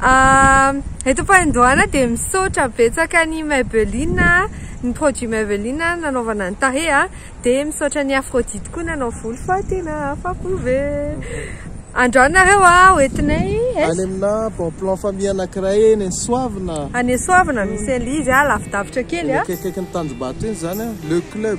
Ah, eto Ampahandohana dia misaotra betsaka an'i Maybelline, ny produit Maybelline nanaovana ny tarehy ah, dia misaotra an'i Aphrodite koa nanao volo fa tena afa-po be. Andrao nareo ah, ho entinay es. Any aminà bon plan famille anankiray eny Soavina. Any Soavina misy an'ilay izy ah, lavidavitra kely ah. Eny akaikikaikin'ny Tanjombato eny izany ah, Le Club.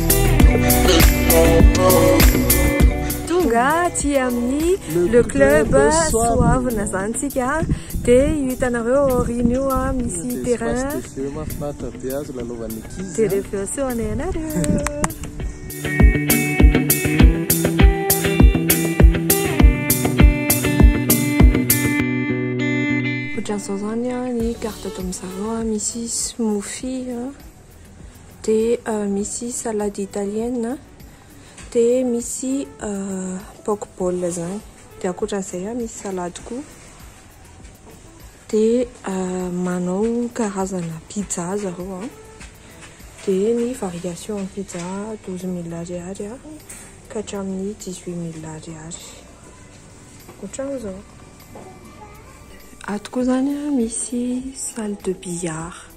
Tonga aty amin'ny le club soavina zany tsika dia io hitanareo aoriana io a misy terrain dia rehefa eo seho anay anareo Ohatran'izao zany ny carte ataon'izareo misy smoothie. dia misy salade italienne, dia misy poke bowl izany, dia ankoatran'izay misy salade koa, dia manao karazana pizza zareo, dia ny variation ny pizza douze mille ariary ka hatramin'ny dix huit mille ariary, ohatran'izao. Ato koa izany misy salle de billard.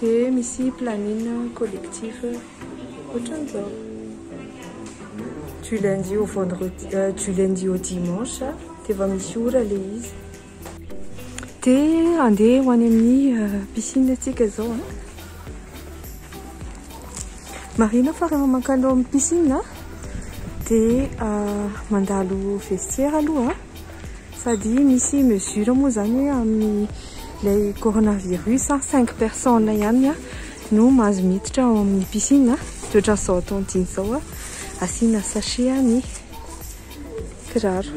Dia misy planine collectif ohatran'izao. Du lundi au vendredi, euh, du lundi au dimanche, dia efa misy ora ilay izy. Dia andeha ho any amin'ny piscine antsika izao an. Marihina fa rehefa mankany ao amin'ny piscine an, dia mandalo vestiaire aloha sady misy mesure moa izany hoe amin'ny ilay coronavirus cinq personnes ihany no mahazo miditra ao amin'ny piscine, dia ohatran'izao atao antsika izao an, asiana sachet ny. kiraro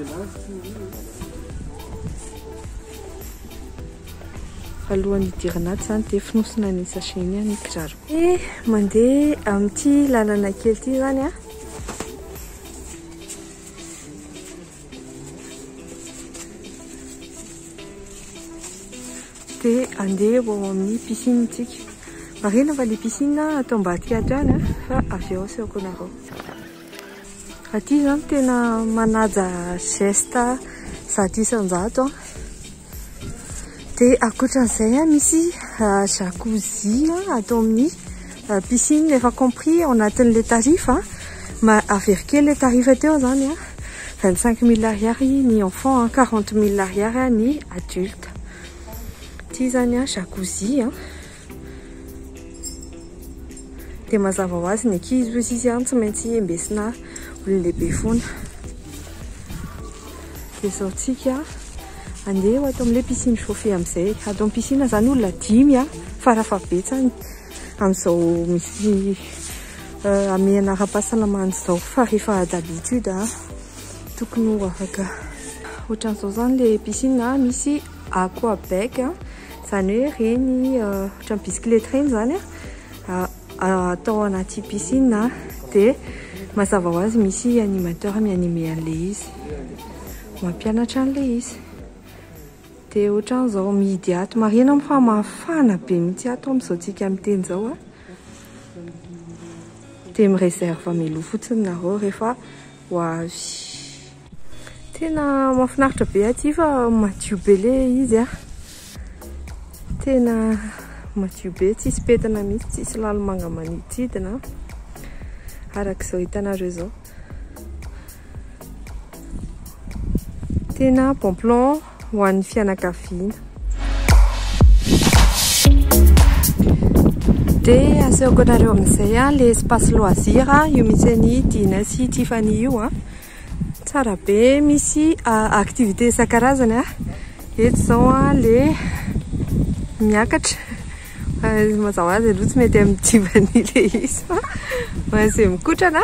alohan'ny hidirana ato zany dia fonosina ny sachet iny ny kiraro eh mandeha amin'ity lalana kely ity zany a dia andeha ho ao amin'ny piscine tsika marina fa le piscine atao ambadika ato ihany a fa avy ao asehoko anareo Aty izao no tena manaja geste zato isan-jato an. Dia ankoatran'izay an, misy jacuzzi ato amin'ny piscine efa compris ao anatin'ilay tarif an. Averiko kely ilay tarif teo izany an, 25 mille ariary ny enfant an, 40 mille ariary ny adulte. Ity izany an jacuzzi an. Dia mazava ho azy ny ankizy hoy izy an, tsy maintsy embesina olon-dehibe foana. Dia izao tsika andeha ho ato amin'ilay piscine chauffée amin'izay. Ato amin'ny piscine izany olona dimy an, fara fahabetsany amin'izao misy euh, amehana ara-pahasalamana izao. Fa rehefa d'habitude an, tokony ho afaka. Ohatran'izao izany ilay piscine misy Aquabag a, izany hoe ireny ohatran'ny bisikileta ireny izany a, atao anaty piscine a, dia mazava ho azy misy animateur mi-animer an'ilay izy, mampianatra an'ilay izy. Dia ohatran'izao mihidy ato, marihina moa fa mafana be mihitsy ato amin'izao tsika miteny izao a, dia mi-reserve mialoha fotsiny nareo rehefa ho avy. Tena mahafinaritra be aty fa madio be le izy a. Tena madio be, tsisy pentina mihitsy, tsisy lalomanga manididina araka izao hitanareo izao. Tena bon plan. ho an'ny fianakaviana. Dia asehoko anareo amin'izay a, le espace loisir a, io misy an'i Dina sy Tiffany io a. Tsara be, misy activité isan-karazany a. Eto izao a, le miakatra. Mazava ho azy aloha tsy mety amin'i Tiffany le izy fa ho an'izay mikotrana.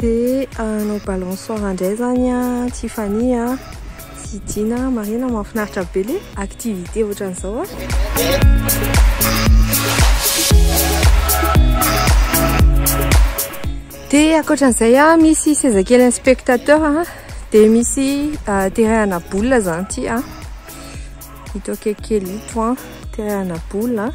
Dia hanao balançoire indray izany an, Tiffany an, sy Dina an, marihina an, mahafinaritra be ilay activité ohatran'izao an. Dia ankoatran'izay an, misy seza kely an'ny spectateur an, dia misy terrain-na boule izany ity an. Ito akaiky kely ito an, terahana boule an.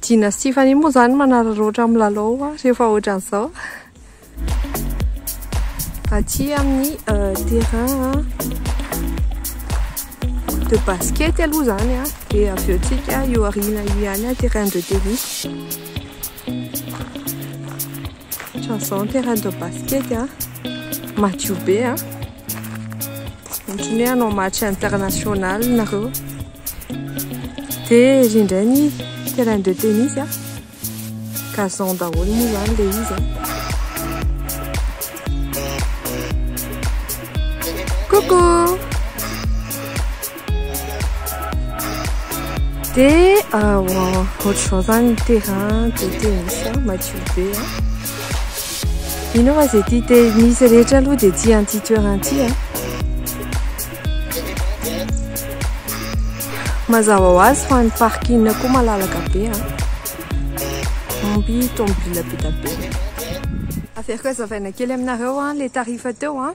Dina sy Tiffany moa zany manararaotra amin'ny lalao an, rehefa ohatran'izao. Aty amin'ny euh, terrain an, de basket aloha zany an, de avy eo tsika io arina io ihany an, terrain de tennis. Ohatran'izao ny terrain-de basket a. Madio be a. Ohatran'ny hoe hanao match international nareo. Dia ery indray ny terrain de tennis a. Gazon daholo moa izany ilay izy a. Coucou De ah, wow, ohatr'izao zany ny terrain de tennis a, madio be a. Ino va zay ty tennis rehetra aloha de tia an'ity toerana ty a. Mazava ho azy fa ny parking koa malalaka be a. Omby tomobila be dia be. Averiko hazavaina kely aminareo a, le tarifa teo a.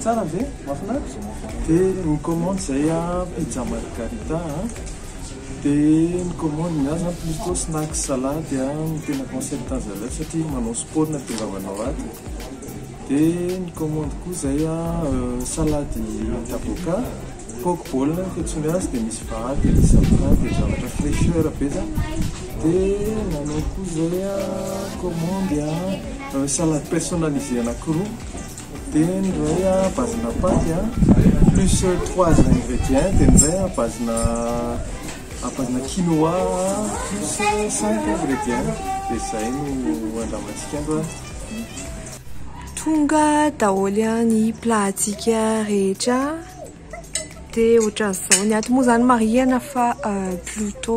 Tsara ve? Mahafinaritra? Dia mi-commande izay an, pizza margarita an, dia mi-commande ny ahy izany plutôt snacks salade an, no tena concept azy aleo satria manao sport no ahatongavana ho ato, dia mi-commande koa izay an salade d'avocat, poke bowl no fiantsoany azy, dia misy vary, dia misy avocat, dia zavatra fraicheur be izany, dia nanao koa izay an commande an salade personnalisée anakiroa. Dia ny iray a base-na paty a, plus trois ingrédients, dia ny iray a base-na à base-na quinoa plus cinq ingrédients, dia izay no andramantsika androany. Tonga daholo ny plat-ntsika rehetra, dia ohatran'izao, ny ato moa izany marihina fa Pluto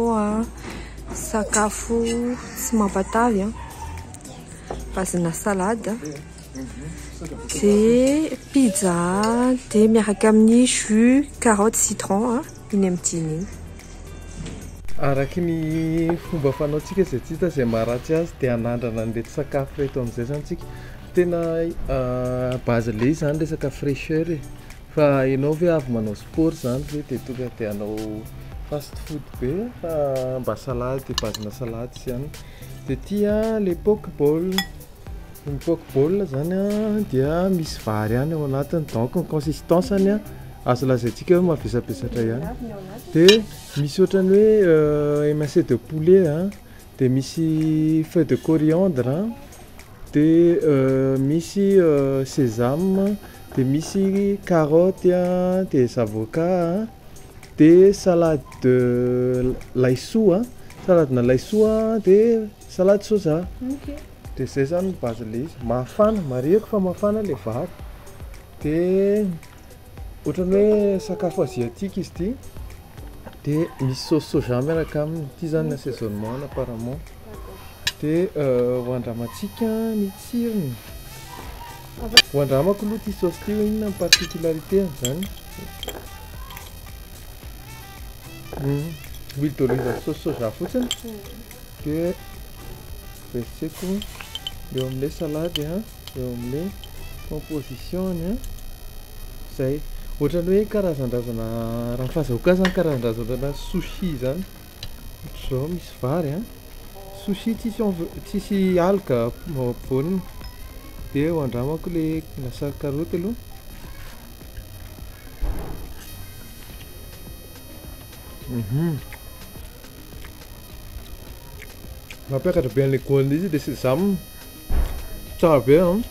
sakafo tsy mampatavy a, base-na salade. Dia pizza dia miaraka amin'ny jus carotte citron iny amin'ny dimy iny. Araky ny fomba fanaontsika izay tsy hita izay maharatsy azy dia hanandrana an'ireto sakafo ireto amin'izay izany isika. Tena base leis izany resaka fraicheur e, fa ianao ve avy manao sport izany ve dia tonga dia hanao fast food be fa mba salady, base-na salady sy ihany. Dia ity a, le poke bowl. Ny poke ball zany dia misy vary ihany ao anatiny donc ny consistance-ny azo lazaintsika hoe mavesabesatra ihany dia misy ohatran'ny hoe euh, émincé de poulet a dia misy feuille de coriandre a dia euh, misy euh, sésame dia misy carotte a dia zavoka a dia salade de laisoa saladina laisoa dia Salade soja dia izay izany ny base ilay izy, mafana, marihiko fa mafana ilay vary dia ohatran'ny hoe sakafo asiatique izy ity dia misy sauce soja miaraka aminy, ity izany ny assaisonnement-ny apparemment dia ho andramantsika ny tsirony, ho andramako aloha ity sauce ity hoe inona ny particularité-ny izany, huile d'olive avy sauce soja fotsiny. dia revitseko eo amin'ilay salady eo amin'ilay composition-ny a, izay ohatran'ny hoe karazan-drazana raha ny fahazahoako azy zany karazan-drazana ohatranà sushi zany, ohatr'izao misy vary a, sushi tsisy env- tsisy algue ampovoaniny, dia ho andramako ilay lasary karaoty aloha. Mhm. Mampiakatra be an'ilay goût an'ilay izy ilay sésame. Tsara be an.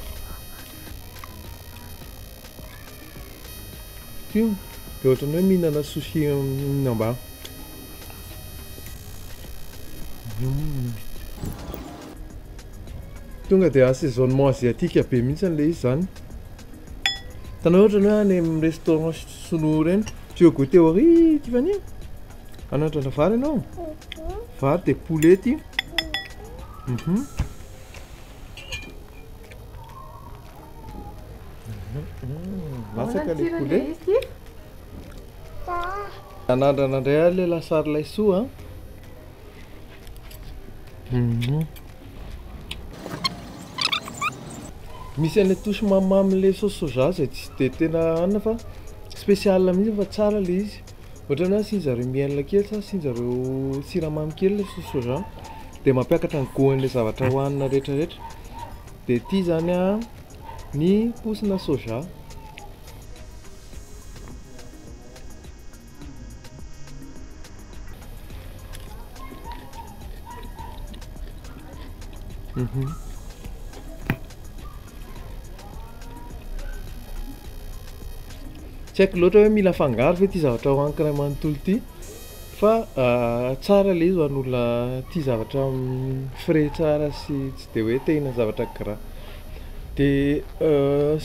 Tia, dia ohatran'ny hoe mihinana sushi mihinam-ba. Mhm. Tonga dia assaisonnement asiatique be mihitsy an'ilay izy izany. Hitanao hoe ohatran'ny hoe any amin'ny restaurant sinoa ireny, Tu veux goûter au riz, Tiffany Hanandrana vary ianao Vary dia poulet ity Mhm. Masaka ilay poulet Hanandrana indray ary ilay lasary laisoa an Mhm. Misy an'ilay touche mamimamin'ilay sauce soja izay tsy dia tena hanina fa spécial mihitsy fa tsara ilay izy. Ohatran'ny hoe asian-dry zareo miel kely sa asian-dry zareo siramamy kely ilay sauce soja dia mampiakatra ny goût-n'ilay zavatra hohanina rehetrarehetra. Dia ity izany an ny paosina soja. Tsy haiko loatra hoe mila afangaro ve ity zavatra hohaniko iray manontolo ity fa tsara ilay izy ho an'olona tia zavatra frais tsara sy tsy dia hoe te hihinana zavatra gras. Dia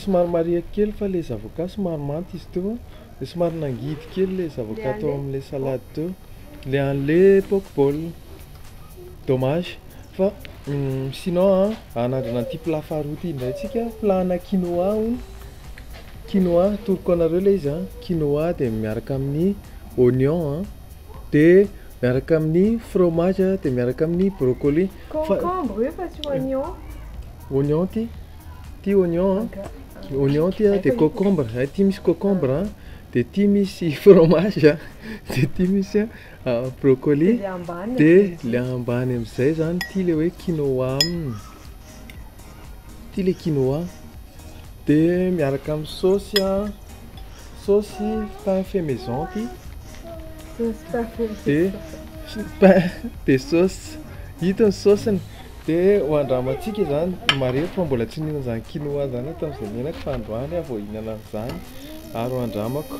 somary marihiko kely fa ilay zavokà somary manta izy teo. Dia somary nangidy kely ilay zavatra tao amin'ilay salady teo, ilay an'ilay poke bowl. Dommage fa sinon an, hanandrana an'ity plat faharoa ity indray tsika, plat ana quinoa hono, quinoa atoroko anareo ilay izy an, quinoa dia miaraka amin'ny oignon an, dia miaraka amin'ny fromage dia miaraka amin'ny broccoli. Concombre io fa tsy oignon. Oignon ity. Ity oignon, oignon ity dia cocombre, ity misy cocombre, dia ity misy fromage, dia ity misy brocoli, dia ilay ambany amin'izay izany ity ilay hoe quinoa, ity ilay quinoa, dia miaraka amin'ny saosy an. Saosy pain fait maison ty. Saosy pain fait maison. Dia pain dia saosy. Ito ny saosiny. Dia ho andramantsika izany, marihiko fa mbola tsy nihinana izany quinoa izany aho tamin'izay niainako fa androany aho vao hihinana an'izany ary ho andramako.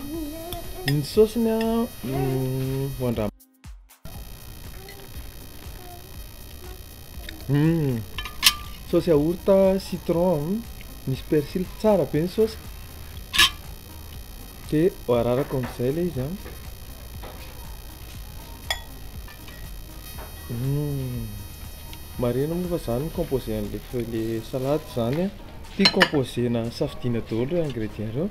Ny saosiny an, ho andramantsika. Hum, saosy yaourt, citron, hum, misy persil, tsara be ny saosy. Dia ararako amin'izay ilay izy an. Hum, marihina moa fa izany no composé an'ilay feuille, ilay salade izany an. Ity composé-na safidiana daholo ireo ingredients ireo.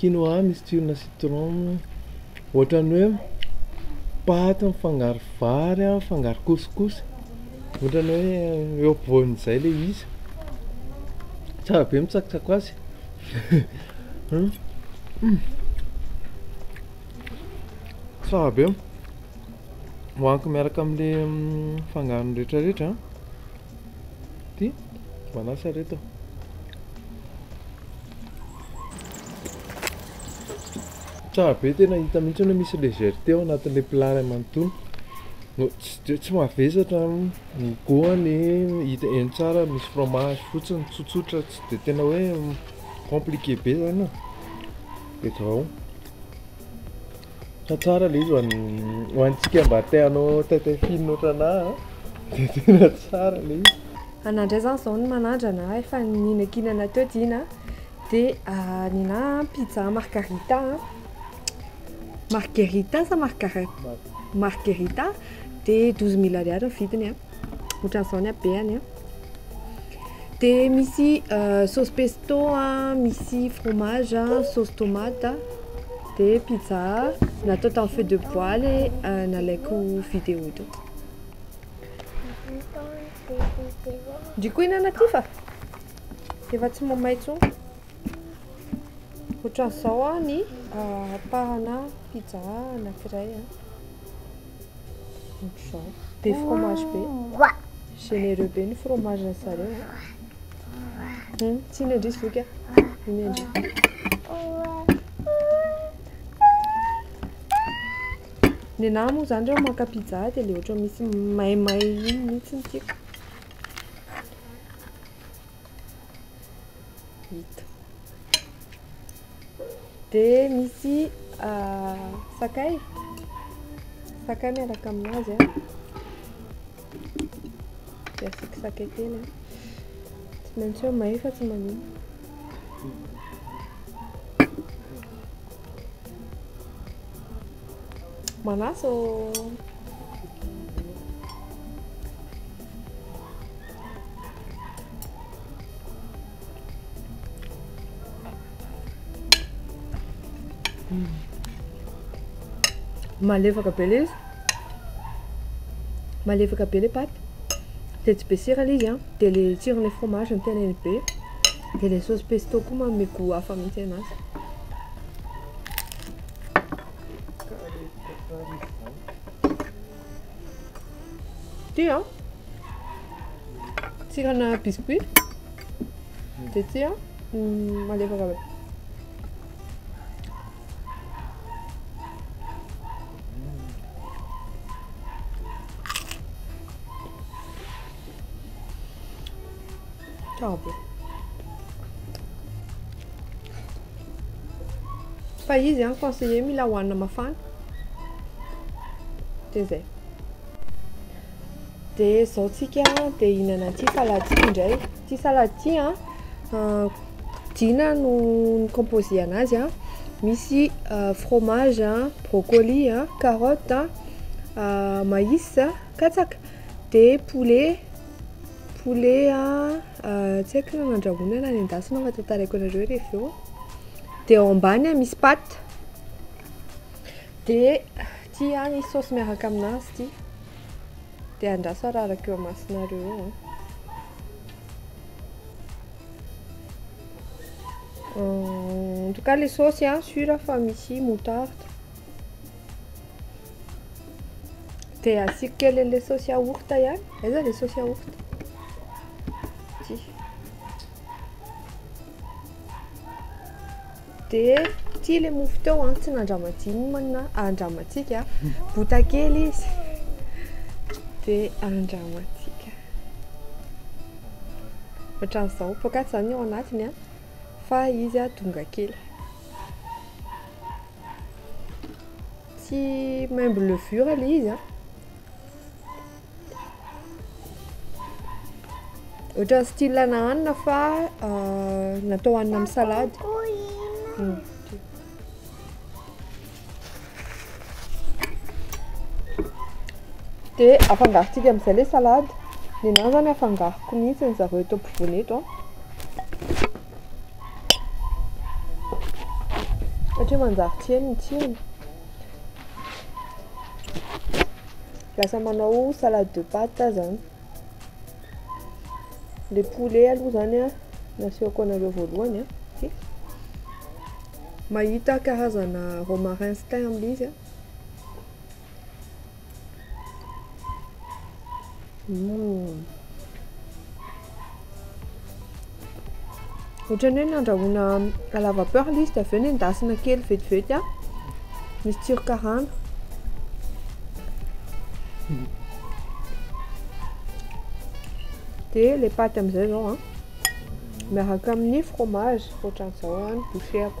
Quinoa misy tsirona citron, ohatran'ny hoe paty mifangaro vary a, mifangaro couscous, ohatran'ny hoe eo ampovoan'izay le izy, tsara be mitsakotsaky azy tsara be, hohaniko miaraka amle fangarony retraretra. Ty manasa reto. Tsara be tena hita mihitsy hoe misy légèreté ao anatin'ilay plat iray manontolo. No tsy tsy mahavesatra ny goany hita eny tsara misy fromage fotsiny tsotsotra tsy dia tena hoe compliqué be zany e. Dia zao. Tantara ilay izy ho antsika mba te hanao taitaifino ohatranà dia tena tsara ilay izy. Anà indray izany izao no manaja anà, efa nihinankinana teo Dina dia nenà pizza margarita, margerita sa margara? margerita dia douze mille ariary ny vidiny a. ohatran'izao ny habeany a dia misy sauce pesto a misy fromage a sauce tomate dia pizza natao tamin'ny feu de bois ilay nalaiko vidéo teo ndry koa hinana ty fa efa tsy mamay intsony ohatran'izao a ny ampahana pizza anankiray a Ohatr'izao. Be fromage be. Généreux be ny fromage ny zareo. Hmm, tsy ny andry zoky ah. Ny andry. Ny anahy moa zany reo maka pizza dia le ohatran'ny misy maimay iny mihitsy ny tiako. Ito. Dia misy ah, sakay. Sakay miaraka aminazy. Ah. Dia asiako sakay kely. Ah. Tsy maintsy eo may fa tsy manino. Manaso. Malefaka be ilay izy. Malefaka be ilay paty. Dia tsy be sira ilay izy an. Dia ilay tsiron'ilay fromage no tena iny be. Dia ilay sauce pesto koa manome goût hafa mihitsy anazy. Ity an, tsirona biscuit, dia ity an, malefaka be. Tabe. Fa izy an conseiller mila hohanina mafana. Dia izay. Dia izao tsika dia hihinana an'ity salade ity indray. Ity salade ity an, ah, Dina no ni-composer anazy an. Misy ah, fromage an, brocoli an, carotte an, ah, maïs an, katsaka, dia poulet Poulet a, tsy haiko na nandrahoina na nendasina fa tantaraiko anareo re avy eo, de ao ambany a misy paty, de ty a misy saosy miaraka aminazy ty, de andraso araraka eo imasonareo eo a, en tout cas le saosy a sur fa misy moutarde. Dia asiako kely an'ilay saosy yaourt ihany. Aiza ilay saosy yaourt? Ity. Dia ity ilay mofo teo an, tsy nandramadinina, andramantsika. Bota kely izy. Dia andramantsika. Ohatran'izao. Poakaty izany ny ao anatiny an, fa izy an, donga kely. Tsy maimbo levure ilay izy an. Ohatran'ny style ana hanina fa euh, natao hanina amin'ny salady. Hmm. Dia afangarontsika amin'izay ilay salady. Ny anahy izany afangaroko mihitsy ny zareo eto ampovoany eto an. Satria manjary tsy heno ny tsirony. Lasa manao salade de pâte aho izany. Ilay poulet aloha izany an, no asiako anareo voalohany an. Mahita karazana romarin sy thym amin'ilay izy an. Ohatran'ny hoe nandrahoana à la vapeur ilay izy dia avy eo nendasina kely vetivety a. Misy tsiro karana. Dia ilay paty amin'izay izao a. Miaraka amin'ny fromage, ohatran'izao ny bouchée-ko.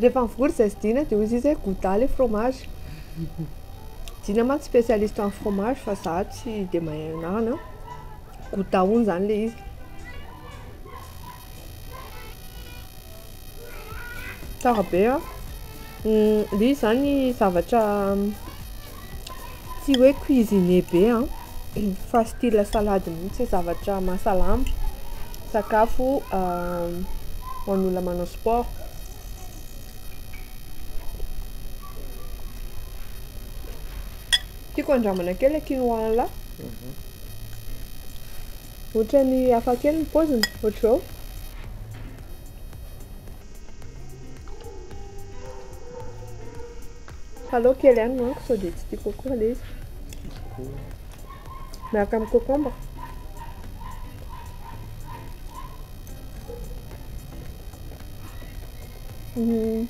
Rehefa mivory izay sy Dina dia hoy izy hoe gouda ilay fromage. Dina mantsy spécialiste amin'ny fromage fa izaho tsy dia mahay anarana. Gouda hono izany ilay izy. Tsara be an! Ilay izy izany zavatra Tsy hoe cuisinier be an, fa style salade mihintsy, zavatra mahasalama, sakafo ho an'olona manao sport. Tiako handramana kely ilay quinoa an'la, ohatran'ny hafa kely ny paoziny, ohatr'izao. Alao kely ihany manko sao dia tsy tia coco ilay izy. Miaraka amin'ny cocombre. Hmm.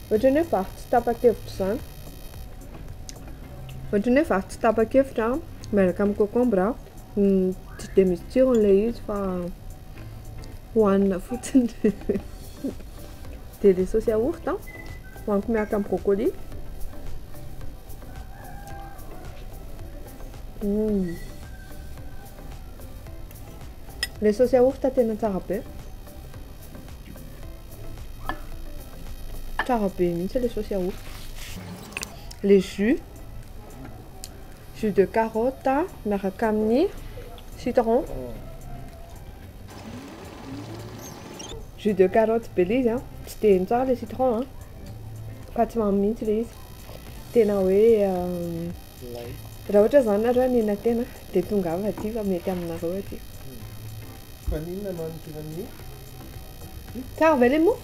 Ohatran'ny hoe vary tsy tapa-kevitra izany. Ohatran'ny hoe vary tsy tapa-kevitra miaraka amin'ny cocombre. Hmm, tsy dia misy tsirony ilay izy fa Hohanina fotsiny. Dia ilay saosy yaourt an, hohaniko miaraka amin'ny brocoli. Hum. Ilay saosy yaourt tena tsara be. Tsara be mihitsy ilay saosy yaourt. Ilay jus. jus de carotte miaraka amin'ny citron. Jus de carotte be ilay izy an, tsy dia heno tsara ilay citron an, fa tsy mamy mihitsy ilay izy, tena hoe raha ohatra izany nareo hanena tena dia tongava aty fa mety aminareo aty. Maninona no hanodinan'ny. Tsara ve ilay mofo?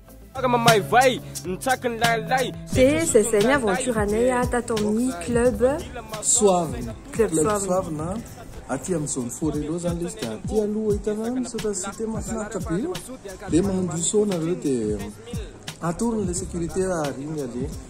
Dia zay zay ny aventure-nay tato amin'ny club Soavina, club Soavina aty amin'ny zone Forello zany ilay izy dia aty aloha hitanareo misaotra site mahafinaritra be io dia mandroso nareo dia atoro ny le securite raha ary iny aleha.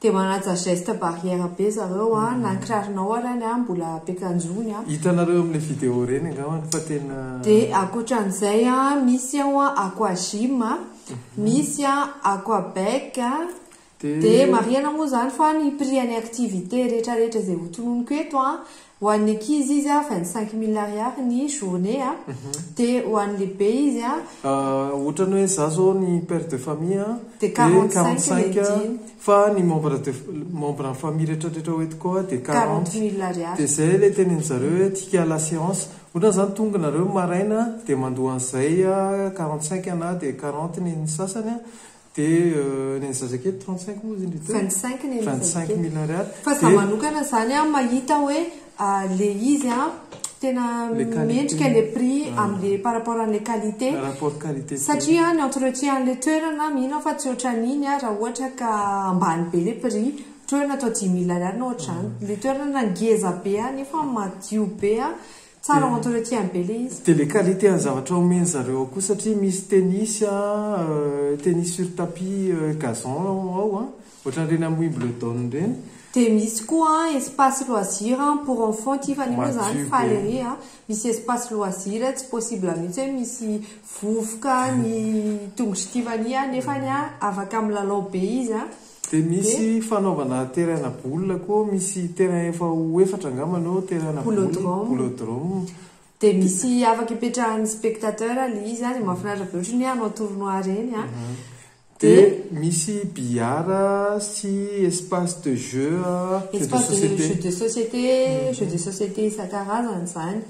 Dia manaja geste barrière be zareo a, na ny kiraronao ary any a mbola ampiakanjony a. Hitanareo amin'ilay vidéo ireny angambany fa tena. Dia ankoatran'izay a, misy ao a aquagym a, misy a aquabec a, dia marihana moa izany fa ny prix an'ny activité rehetrarehetra izay hotononiko eto a, Ho an'ny ankizy izy a vingt cinq mille ariary ny journée a, dia ho an'ny lehibe izy a. Ohatrany hoe za zao ny père de famille a, dia quarante cinq le jean, fa ny membre de membre en famille retraretra ho eto koa dia quarante mille ariary, dia zay le tenenin zareo hoe tika à la séance, ohatrany zany tonga nareo maraina dia mandoa an'izay a quarante cinq na dia quarante ny sasany a, Dia ny an'ny zazakely trente cinq moa izy indrindra? Vingt cinq ny an'ny zazakely. Vingt cinq mille ariary. Fa za manokana izany an, mahita hoe ilay izy an, tena mendrika ilay prix amin'ilay par rapport an'ilay qualité. Rapport qualité prix. Satria ny entretien an'ilay toerana mino aho fa tsy ohatran'iny an, raha ohatra ka ambany be ilay prix. Toerana atao dimy mille ariary na ohatr'izany. Ilay toerana ngeza be an, nefa madio be an, Tsara ho entretien be le izy. Dia le qualité an'ny zavatra omen zareo ao koa satria misy tennis a, tennis sur tapis gazon ao an, ohatran'ireny am Wimbledon ireny. Dia misy koa an espace loisir pour enfants ity fa io moa zany faly ery an, misy espace loisir tsy possible mihitsy hoe misy vovoka ny tongotr'i Tiffany an, nefany an afaka milalao be izy an. Dia misy fanaovana terrain-na boule koa, misy terrain efa ho efatra angamba no terrain-na boule, boulodrome. Dia misy afaka ipetrahan'ny spectateur ilay izy dia mahafinaritra be ohatran'ny hoe hanao tournoi ireny an. Dia misy billard sy espace de jeux, jeux de société. Espace de jeux de société, jeux de société isan-karazany izany.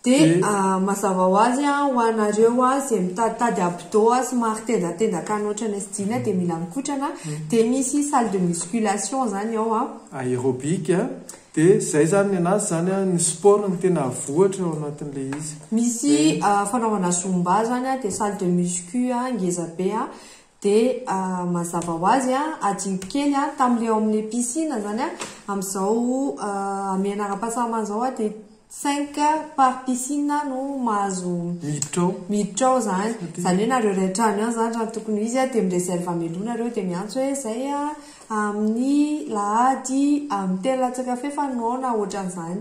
Dia mazava ho azy ho anareo izay mitaditady abdo somary tendatendaka any ohatrany sy jean dia mila mikotrana dia misy salle de musculation izany ao an. Aerobic an, dia izay izany ny anazy izany an, ny sport no tena avohatra ao anatin'ilay izy. Misy fanaovana zumba izany an, dia salle de muscu ngeza be an, Dia mazava ho azy, adinoko kely an, tamin'ilay ao amin'ny piscine izany an, amin'izao hamehana ara-pahasalamana izao an, dia cinq par piscine no mahazo miditra ao, miditra ao izany. Izany hoe nareo iray trano ihany izany raha ny tokony ho izy an, dia mi-reserve hamelona nareo, dia miantso hoe izay amin'ny lahady amin'ny telo latsaka fahefany no ao na ohatran'izany.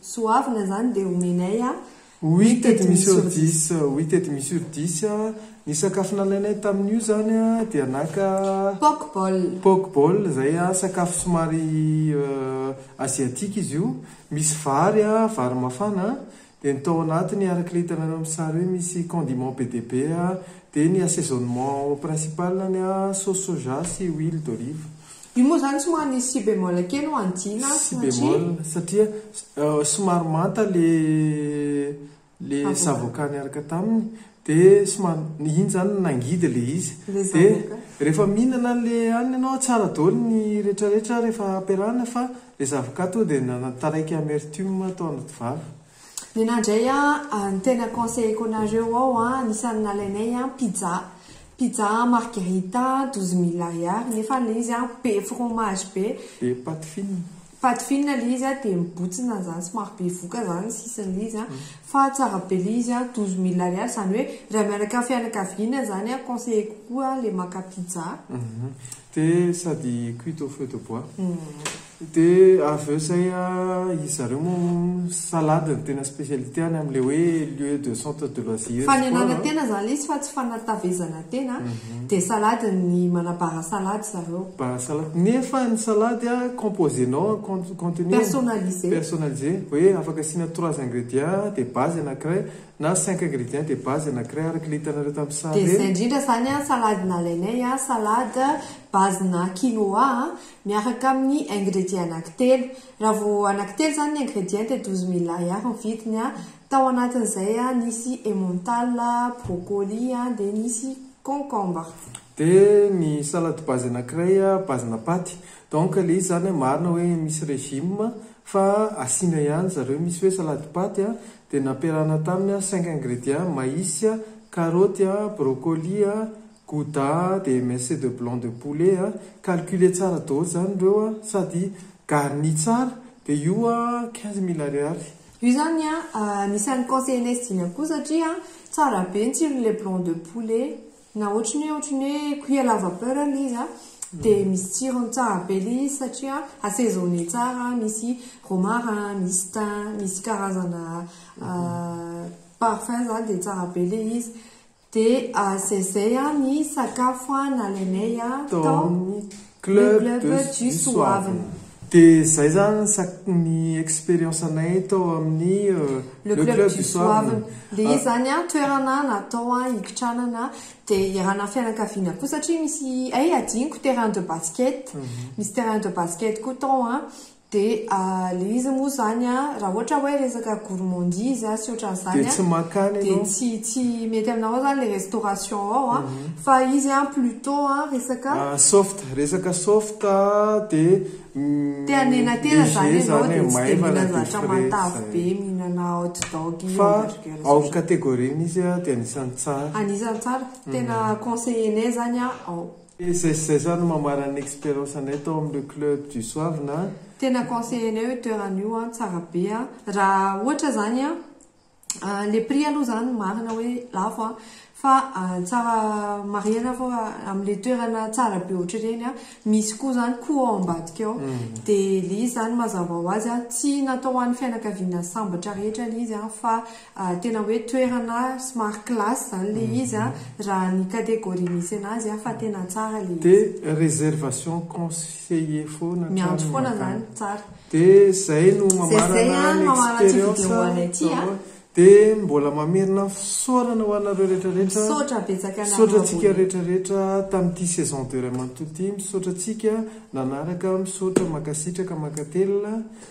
Soavina zany dia omenay a! Oui tety mi sur dix oui tety mi sur dix ny sakafo nalainay tamin'io zany dia naka. Poke bowl. Poke bowl zay sakafo somary asiatique izy io misy vary a vary mafana dia ny tao anatiny araka ilay hitanareo amin'ny sary eo misy condiment be dia be dia ny assaisonnement principal-ny a sauce soja sy huile d'olive. Io moa izany tsy maha nisy si bémol kely ho an'i Jina an, satria. Si bémol, satria somary manta ilay zavoka niaraka taminy, dia somary, iny izany nangidy ilay izy. Ilay zavoka. Dia rehefa mihinana ilay hanina ianao, tsara daholo ny rehetrarehetra rehefa ampiarahana fa ilay zavoka tonga dia nanana taraiky amertume tao anaty vava. Nena ndray a, ny tena conseilleko anareo ao a, anisany nalainay a pizza, pizza margherita douze mille ariary nefa le izy a be fromage be, be pâte fine, pâte fine le izy a de mibotsina zany somary be voka zany ny sisiny le izy a, fa tsara be le izy a, douze mille ariary zany hoe raha mianaka fianakaviana zany a conseilleko koa le maka pizza. De sady cuite au feu de bois. De avy eo zay an, izy zareo moa salade no tena spécialité any amin'ilay hoe lieu de centre de loisir, sport, Fanenana tena izany ilay izy fa tsy fanatavezana tena, dia salade ny manabara salade zareo. Bara salade, nefa ny salade an composé nao an con- contenu. Personnalisé. Personnalisé, hoe afaka asiana trois ingrédients dia base anakiray, Na cinq ingrédients de base anakiray araka ilay hitanareo tamin'ny sary ireny. Dia izay indrindra izany an, salade nalainay an, salade base-na quinoa an, miaraka amin'ny ingrédients anakitelo. Raha vao anakitelo izany ny ingrédients dia douze mille ariary ny vidiny an, tao anatin'izay an, nisy emmental, brocoli an, dia nisy concombre. Dia ny salade base anakiray an, base-na paty. Donc ilay izy izany an, marina hoe misy régime fa asiana ihany zareo, misy hoe salade paty an, Dia nampiarahana taminy an cinq ingrédients, maïs, karoty, brocoli, gouda, dia émincé de blanc de poulet an, calculer tsara daholo izany ireo an, sady garni tsara, dia io an quinze mille ariary. Io izany an, anisan'ny conseillers-nay sy dimy an koa satria an tsara be ny tsirony ilay blanc de poulet. Na ohatry ny hoe ohatry ny hoe cuit à la vapeur ilay izy a, dia misy tsirony tsara be ilay izy satria assaisonner tsara, misy romarin, misy thym, misy karazana parfum izany dia tsara be ilay izy. Dia izay izay ny sakafo nalainay tao. Club de Jisoavina. Dia izay izany ny expérience anay tao amin'ny Le Club Jisoavina. Dia izy izany an, toerana natao hikitranana dia iharanan'ny fianakaviana koa satria misy, hay hadinoko, terrain de basket, misy terrain de basket koa tao an, Dia le izy moa zany a, raha ohatra hoe resaka gourmandise sy ohatran'izany a, dia tsy mankany ianao, dia tsy tsy mety aminao zany le restauration ao a, fa izy a plutot a resaka. Soft, resaka soft a dia. Te hanenatena zany ianao dia tsy dia mila zavatra matavy be mihinana hot dog io hamburger io. Fa ao categorie-ny izy a dia anisan'ny tsara. Anisan'ny tsara, tena conseiller-nay zany a ao. Dia izay sy izay zany no mambara ny experience anay tao amin'ny le club du Soavina a. Tena conseiller anay io toerana io an, tsara be an. Raha ohatra zany an, le prix aloha zany marina hoe lafo an, fa tsara marihina fa amin'le toerana tsara be ohatr'ireny an, misy koa zany coût ao ambadika ao. Dia le izy zany mazava ho azy an, tsy natao ho an'ny fianakaviana sambatra rehetra le izy an, fa Tena hoe toerana somary classe izany ilay izy an, raha ny catégorie misy anazy an, fa tena tsara ilay izy. Dia réservation conseillée foana hatrany makany. Miantso foana izany, tsara. Dia izay no mamarana ny expérience an. Dia mbola mamerina fisaorana ho anareo rehetra rehetra. Misaotra betsaka anareo abonné. Misaotra antsika rehetra rehetra tamin'ity saison deux ray manontolo ity. Misaotra antsika nanaraka, misaotra, mankasitraka, mankatelina.